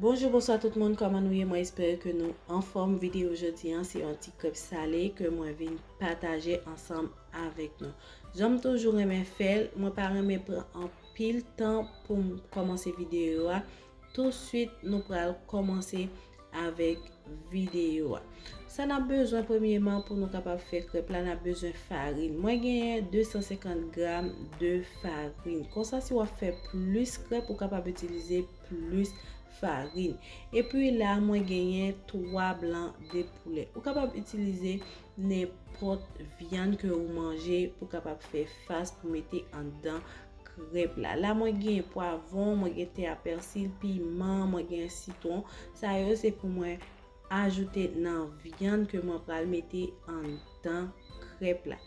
Bonjou bonswa tout moun kòman nou ye mwen espere ke nou anfòm videyo jodi an se yon ti krèp sale ke mwen vin pataje ansanm avèk nou janm toujou renmen fèl mwen pa renmen pran anpil tan poum kòmanse videyo a tou swit nou pral kòmanse avèk videyo a sa nap bezwen premyeman pou nou kapab fè krèp la nap bezwen farin mwen genyen 250 gram de farin konsa si wap fè plis krèp ou kapab itilize plis farin. Epi la mwen genyen 3 blan de poulè. Ou kapab itilize nenpòt vyann ke ou manje pou kapab fè fas pou mete anndan krèp la. La mwen genyen pwavon, mwen gen te a pèsil, piman, mwen genyen sitwon. Sa yo se pou mwen Ajoute nan vyann ke mwen pral mete anndan krèp la.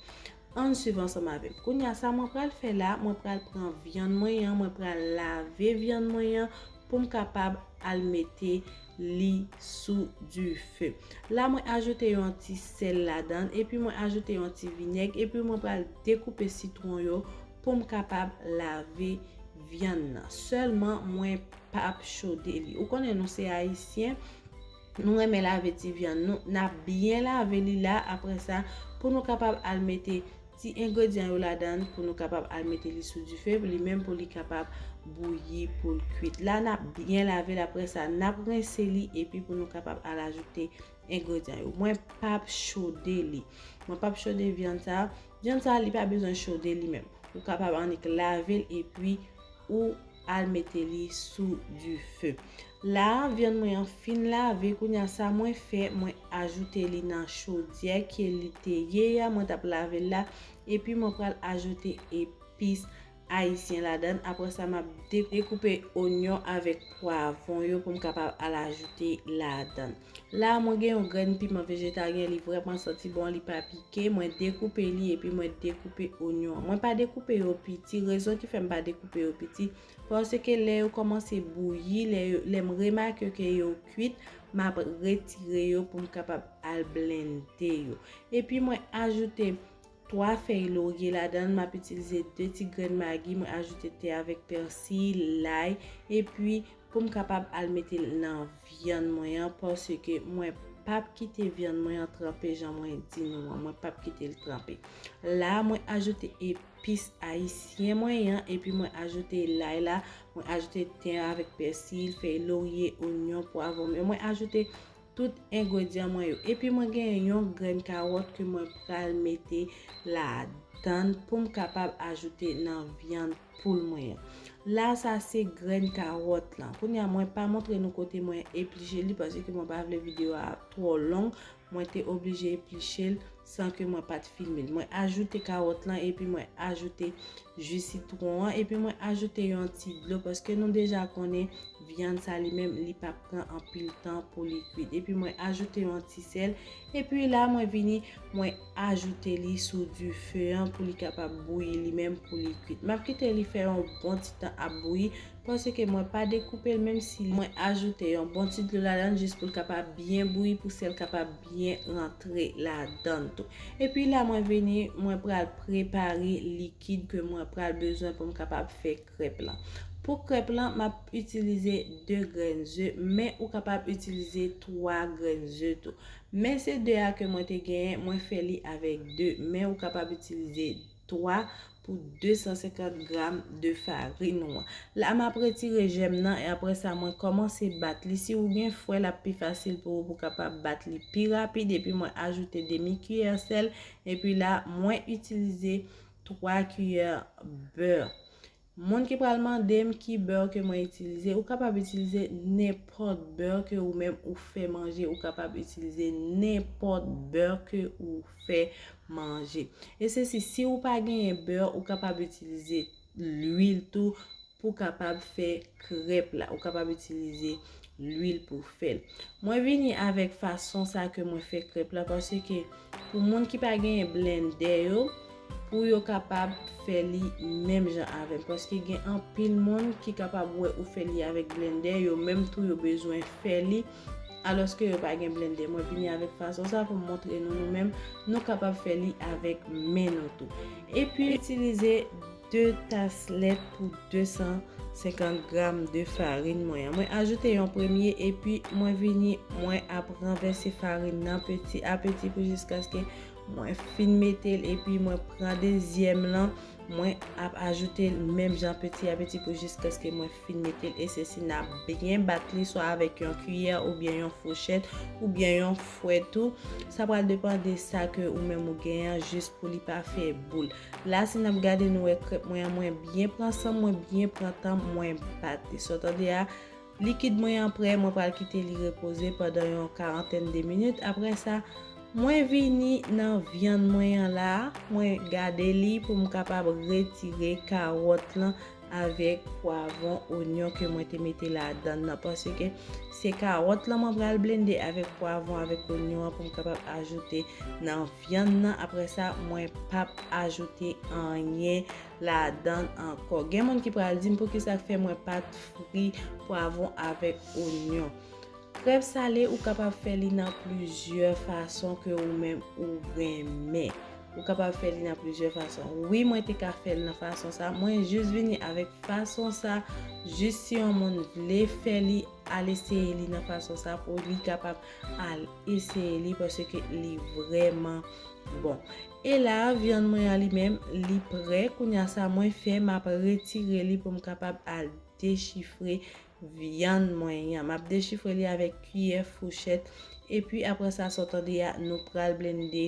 Ann swiv ansanm avè m. Kounye a sa mwen pral fè la, mwen pral pran vyann mwen an, mwen pral lave vyann mwen an pou m kapab al mete li sou dife. La mwen ajoute yon ti sèl ladan l epi mwen ajoute yon ti vinèg epi mwen pral dekoupe sitwon yo. poum kapab lave vyann nan selman mwen pap chode li ou konnen nou se ayisyen nou renmen lave ti vyann nou nap byen lave li la apre sa pou nou kapab al mete ti engredyan yo ladan pou nou kapab al mete li sou dife li menm pou li kapab bouyi poul kwit la nap byen lave la apre sa nap rense li epi pou nou kapab al ajoute engredyan yo mwen pap chode li mwen pap chode vyann sa Vyann sa li pa bezwen chode li menm. Ou kapab annik lave l epi ou al mete li sou dife. La a vyann mwen an fin lave kounye a sa mwen fè mwen ajoute li nan chodyè ke li te ye a mwen t ap lave l la epi mwen pral ajoute epis ayisyen ladann aprè sa map dekoupe onyon avèk pwavon yo poum kapab al ajoute ladann la mwen gen yon grenn piman vejetaryen li vrèman santi bon li pa pike mwen dekoupe li epi mwen dekoupe onyon an mwen pa dekoupe yo piti rezon ki fèm pa dekoupe yo piti paske lè yo kòmanse bouyi lèm remake ke yo kwit map retire yo poum kapab al blende yo epi mwen ajoute 3 fèy lorye ladanl map itilize 2 ti grenn magi mwen ajoute te avèk pèsi, lay epi poum kapab al metel nan vyann mwen an paske mwen pap kite vyann mwen an tranpe jan mwen di nou an mwen pap kitel tranpe la mwen ajoute epis ayisyen mwen an epi mwen ajoute lay la mwen ajoute ten avèk pèsi, fèy lorye, onyon, pwavon mwen ajoute tout engredyan mwen yo epi mwen genyen yon grenn kawòt ke mwen pral mete ladann poum kapab ajoute nan vyann poul mwen an la sa se grenn kawòt lan kounye a mwen pa montre nou kote mwen epliche li paske mwen pa vle video a twò long mwen te oblije eplichel San ke mwen pat filme l. Mwen ajoute kawòt lan epi mwen ajoute ju sitwon an epi mwen ajoute yon ti dlo paske nou deja konnen vyann sa li menm li pap pran anpil tan pou li kwit. Epi mwen ajoute yon ti sèl epi la mwen vini mwen ajoute li sou dife an pou li kapab bouyi li menm pou li kwit. Map kite li fè yon bon ti tan ap bouyi Paske mwen pa dekoupe l menm si mwen ajoute yon bon ti dlo ladann jis pou l kapab byen bouyi pou sèl kapab byen rantre ladann tou. Epi la mwen vini mwen pral prepare likid ke mwen pral bezwen pou m kapab fè krèp lan. Pou krèp lan map itilize 2 grenn ze men ou kapab itilize 3 grenn ze tou. Men se 2 a ke mwen te genyen mwen fè li avèk 2 men ou kapab itilize. 3 pou 250 gram de farin ou an. La m ap retire jèm nan e apre sa mwen kòmanse bat li. Si ou gen fwè l ap pi fasil pou ou pou kapab bat li pi rapid epi mwen ajoute demi kiyè sèl epi la mwen itilize 3 kiyè bè. Moun ki pral mandem ki beurre ke mwen itilize, ou kapab itilize nenpòt beurre ke ou menm ou fè manje, ou kapab itilize nenpòt beurre ke ou fè manje. E se si, si ou pa genyen beurre, ou kapab itilize l'huile tou pou kapab fè krèp la, ou kapab itilize. lwil pou fèl. Mwen vini avèk fason sa ke mwen fè krèp la paske pou moun ki pa genyen blendè yo pou yo kapab fè li menm jan avèm paske gen anpil moun ki kapab wè ou fè li avèk blendè yo menm tou yo bezwen fè li alòske yo pa gen blendè. Mwen vini avèk fason sa pou montre nou nou menm nou kapab fè li avèk men nou tou. Epi itilize. 2 tas lèt pou 250 gram de farin mwen an. Mwen ajoute yon premye epi mwen vini mwen ap ranvèse farin nan peti a peti pou jiskaske mwen fin mete l epi mwen pran dezyèm lan mwen ap ajoute l menm jan peti a peti pou jiskaske mwen fin mete l e se si n ap byen bat li swa avèk yon kiyè oubyen yon fouchèt oubyen yon fwèt ou sa pral depan de sa ke ou menm ou gen an jis pou li pa fè boul. La si nap gade nou wè krèp mwen an mwen byen pran sanm mwen byen pran tanm mwen bat li so tande a likid mwen an prè mwen pral kite li repoze pandan yon karantèn de minit aprè sa mwen vini nan vyann mwen an la mwen gade li poum kapab retire karòt lan avèk pwavon onyon ke mwen te mete ladann nan paske se karòt lan mwen pral blende avèk pwavon avèk onyon an poum kapab ajoute nan. Vyann nan aprè sa mwen pap ajoute anyen ladann ankò. Gen moun ki pral dim poukisa fè mwen pat fri pwavon avèk onyon. Krèm sale ou kapab fè li nan plizyè fason ke ou menm ou renmen. Ou kapab fè li nan plizyè fason. Wi mwen te ka fèl nan fason sa. Mwen jis vini avèk fason sa. Jis si yon moun vle fè li al eseye li nan fason sa pou li kapab. Al eseye li paske li vreman bon. E la vyann mwen an li menm li prè kounya sa mwen fè map retire li poum kapab al dechifre vyann mwen an map dechifre li avèk kiyè fouchèt epi aprè sa sa w tande a nou pral blende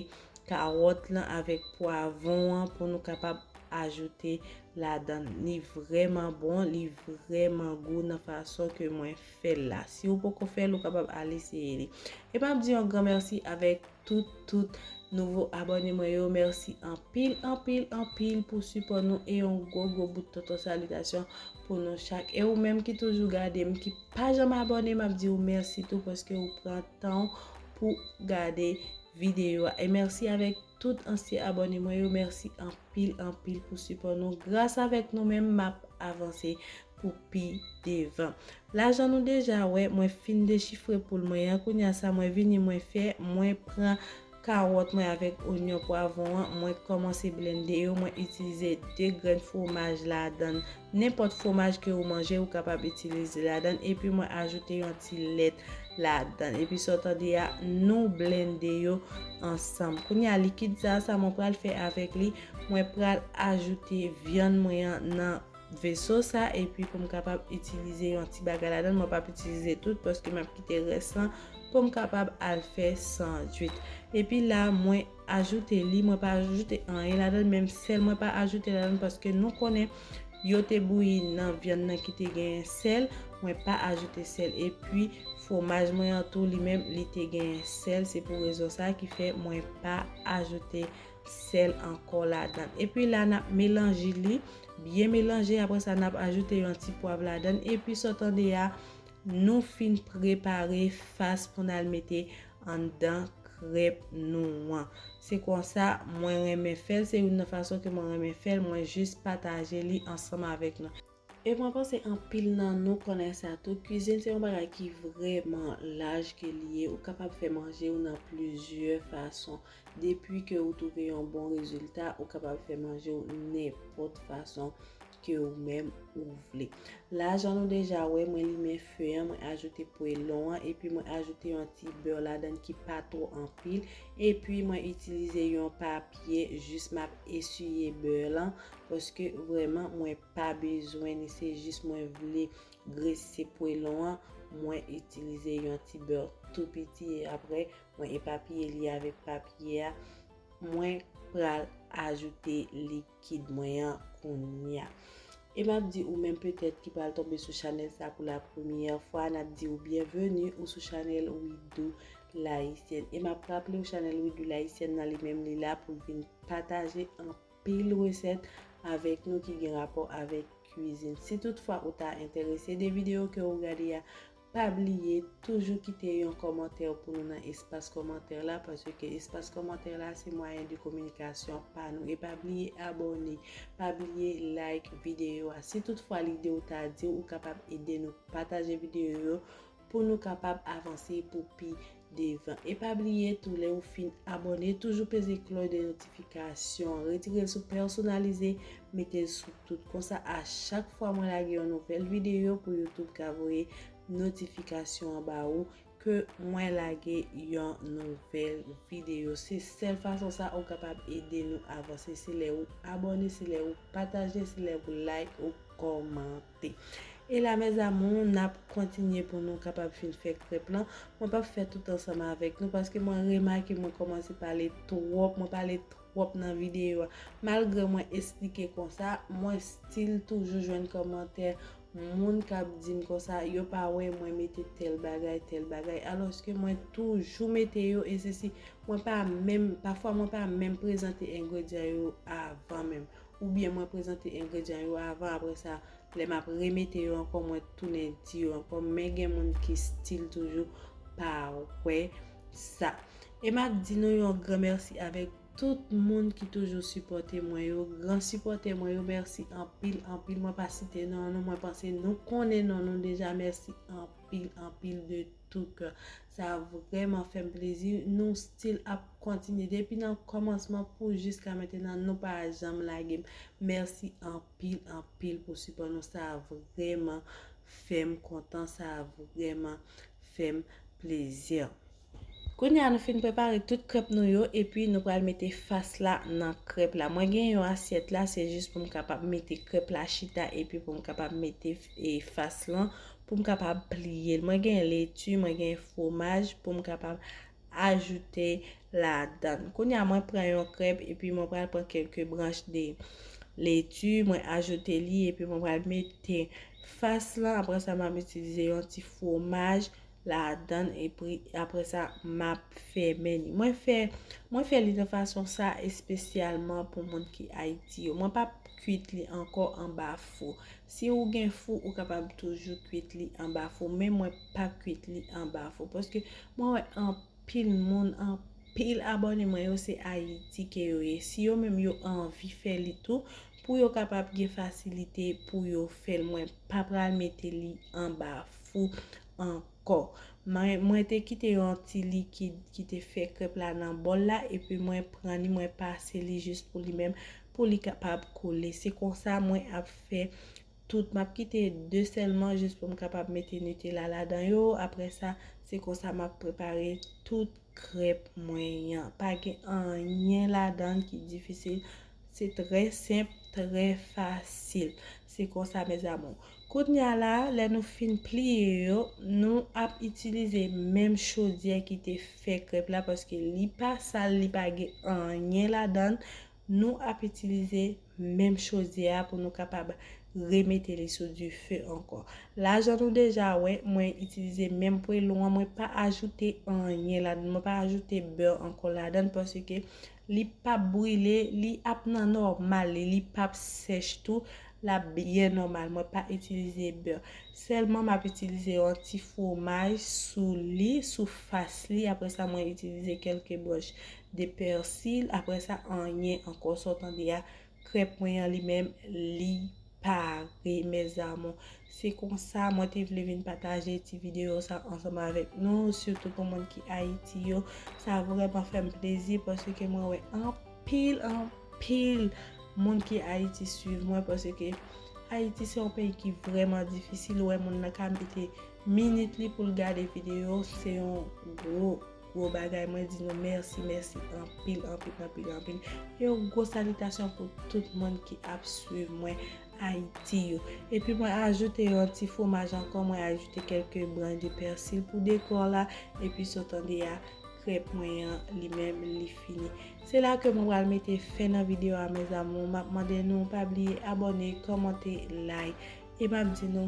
kawòt lan avèk pwavon an pou nou kapab ajoute ladann li vreman bon li vreman gou nan fason ke mwen fè l la. Si ou poko fè l ou kapab al eseye li. E map di yon gran mèsi avèk tout tout nouvo abòne mwen yo. Mèsi anpil anpil anpil pou sipò nou e yon gwo gwo bout tonton salitasyon pou nou chak. E ou menm ki toujou gade m ki pa janm abòne map di ou mèsi tou paske ou pran tan ou pou gade videyo a. E mèsi avèk. Tout ansyen abòne mwen yo mèsi anpil anpil pou sipò nou gras avèk nou menm map avanse pou pi devan lajan nou deja wè mwen fin dechifre poul mwen an kounya sa mwen vini mwen fè mwen pran kawòt mwen avèk onyon pwavon an mwen kòmanse blende yo mwen itilize 2 grenn fwomaj ladann Nenpòt fwomaj ke ou manje ou kapab itilize ladann epi mwen ajoute yon ti lèt ladann epi sa w tande a nou blende yo ansanm kounye a likid sa a sa mwen pral fè avèk li mwen pral ajoute vyann mwen an nan veso sa epi pou m kapab itilize yon ti bagay ladann mwen pap itilize tout paske map kite rès lan pou m kapab al fè sandwich epi la mwen. ajoute li mwen pa ajoute anyen ladann menm sèl mwen pa ajoute ladann paske nou konnen yo te bouyi nan vyann nan ki te genyen sèl mwen pa ajoute sèl epi fwomaj mwen an tou li menm li te genyen sèl se pou rezon sa ki fè mwen pa ajoute sèl ankò ladann epi la nap melange li byen melange apre sa nap ajoute yon ti pwav ladann epi sa w tande a nou fin prepare fas pou n al mete anndan krèp nou an. Se konsa mwen renmen fèl, se youn nan fason ke mwen renmen fèl, mwen jis pataje li ansanm avèk nou. E mwen panse anpil nan nou konnen sa tou, kwizin se yon bagay ki vrèman laj ke li ye, ou kapab fè manje ou nan plizyè fason. Depi ke ou twouve yon bon rezilta, ou kapab fè manje ou nenpòt fason. ke ou menm ou vle. La jan nou deja wè mwen limen feu an mwen ajoute pwelon an epi mwen ajoute yon ti beurre ladann ki pa two anpil epi mwen itilize yon papye jis map eswiye beurre lan paske vreman mwen pa bezwen ni se jis mwen vle grese pwelon an mwen itilize yon ti beurre tou piti e apre mwen epapiye li avek papye a mwen pral ajoute li. kid mwen an kounya. E map di ou menm petèt ki pral tonbe sou chanèl sa pou la premyè fwa nap di ou byenveni ou sou chanèl Widoo L'haïtienne. E map raple ou chanèl Widoo L'haïtienne nan li menm li la pou l vin pataje anpil resèt avèk nou ki gen rapò avèk kwizin. Si tout fwa ou ta entèrese de videyo ke ou gade a, Pa bliye toujou kite yon kòmantè w pou nou nan espas kòmantè la paske espas kòmantè la se mwayen de kominikasyon pa nou e pa bliye abòne pa bliye like videyo a si tout fwa lide w ta di w ou kapab ede nou pataje videyo yo pou nou kapab avanse pou pi devan e pa bliye tou lè ou fin abòne toujou peze klòy de notifikasyon an retirel sou pèsonalize metel sou tout konsa a chak fwa mwen lage yon nouvèl videyo pou youtube ka voye notifikasyon an ba ou ke mwen lage yon nouvèl videyo se sèl fason sa ou kapab ede nou avanse se lè ou abòne se lè ou pataje se lè ou like ou kòmante. E la mes amours nap kontinye pou nou kapab fin fè krèp lan, mwen pap fè tout ansanm avèk nou paske mwen remake mwen kòmanse pale twòp, mwen pale twòp nan videyo a, malgre mwen esplike konsa mwen stil toujou jwenn kòmantè moun kap dim konsa yo pa wè mwen mete tèl bagay tèl bagay alòske mwen toujou mete yo e sesi mwen pa menm pafwa mwen pa menm prezante engredyan yo avan menm. Oubyen mwen prezante engredyan yo avan apre sa lè map remete yo ankò mwen tounen di yo ankò men gen moun ki stil toujou pa wè sa. E map di nou yon gran mèsi avèk tout moun ki toujou sipòte mwen yo, gran sipòtè mwen yo mèsi anpil anpil mwen pa site non nou mwen panse nou konnen non nou deja mèsi anpil anpil de tou kè. Sa vrèman fèm plezi nou still ap kontinye depi nan kòmansman pou jiska mentenan nou pa janm lagem mèsi anpil anpil pou sipò nou sa vrèman fèm kontan sa vrèman fèm plezi. Kounye a nou fin prepare tout krèp nou yo epi nou pral mete fas la nan krèp la mwen gen yon asyèt la se jis poum kapab mete krèp la chita epi poum kapab mete fas lan pou m kapab pliye l. Mwen gen leti, mwen gen fwomaj pou m kapab ajoute ladan l. Kounye a mwen pran yon krèp epi mwen pral pran kèlke branch de leti, mwen ajoute li epi mwen pral mete fas lan. Apre sa m ap itilize yon ti fwomaj ladan l epi apre sa m ap fèmen li. Mwen fè li de fason sa espesyalman pou moun ki Ayiti yo. Mwen pa p kwit li ankò anba fou. Si ou gen fou ou kapab toujou kwit li anba fou men mwen pa kwit li anba fou paske mwen wè anpil moun anpil abòne mwen yo se ayiti ke yo ye si yo menm yo anvi fè li tou pou yo kapab gen fasilite pou yo fèl mwen pa pral mete li anba fou anpil. Kò. Mwen mwen te kite yon ti likid ki te fè krèp la nan bòl la epi mwen pran li mwen pase li jis pou li menm pou li kapab koule. Se konsa mwen ap fè tout. M ap kite 2 sèlman jis pou m kapab mete Nutella ladan yo. Aprè sa, se konsa m ap prepare tout krèp mwen an. Pa gen anyen ladan l ki difisil. Se trè senp, trè fasil. Se konsa mes amours. Kounya la, lè nou fin pliye yo, nou ap itilize menm chodyè ki te fè krèp la paske li pa sal, li pa gen anyen ladan. Nou ap itilize menm chodyè a pou nou kapab remete li sou dife ankò. La jan nou deja wè, mwen itilize menm pwelon an, mwen pa ajoute anyen ladan, mwen pa ajoute bè ankò ladan paske Li pap brile, li ap nan nòmal li, li pap sèch tou, lap byen nòmal, mwen pa itilize bè, sèlman map itilize yon ti fwomaj sou li, sou fas li, aprè sa mwen itilize kèlke branch de pèsil, aprè sa anyen ankò, sa w tande a, krèp mwen an li menm li. pare mes amours se konsa mwen te vle vin pataje ti video sa ansanm avèk nou sitou pou moun ki ayiti yo sa vrèman fèm plezi paske mwen wè anpil anpil moun ki ayiti swiv mwen paske ayiti se yon peyi ki vrèman difisil wè moun nan ka mete minit li poul gade video se yon gwo Gwo bagay mwen di nou mèsi mèsi anpil anpil anpil anpil yon gwo salitasyon pou tout moun ki ap swiv mwen ayiti yo epi mwen ajoute yon ti fwomaj ankò mwen ajoute kelke branch de persil pou dekò la epi sa w tande a krèp mwen an li menm li fini se la ke mwen pral mete fen nan video a mes amours map mande nou pa bliye abòne kòmante like e map di nou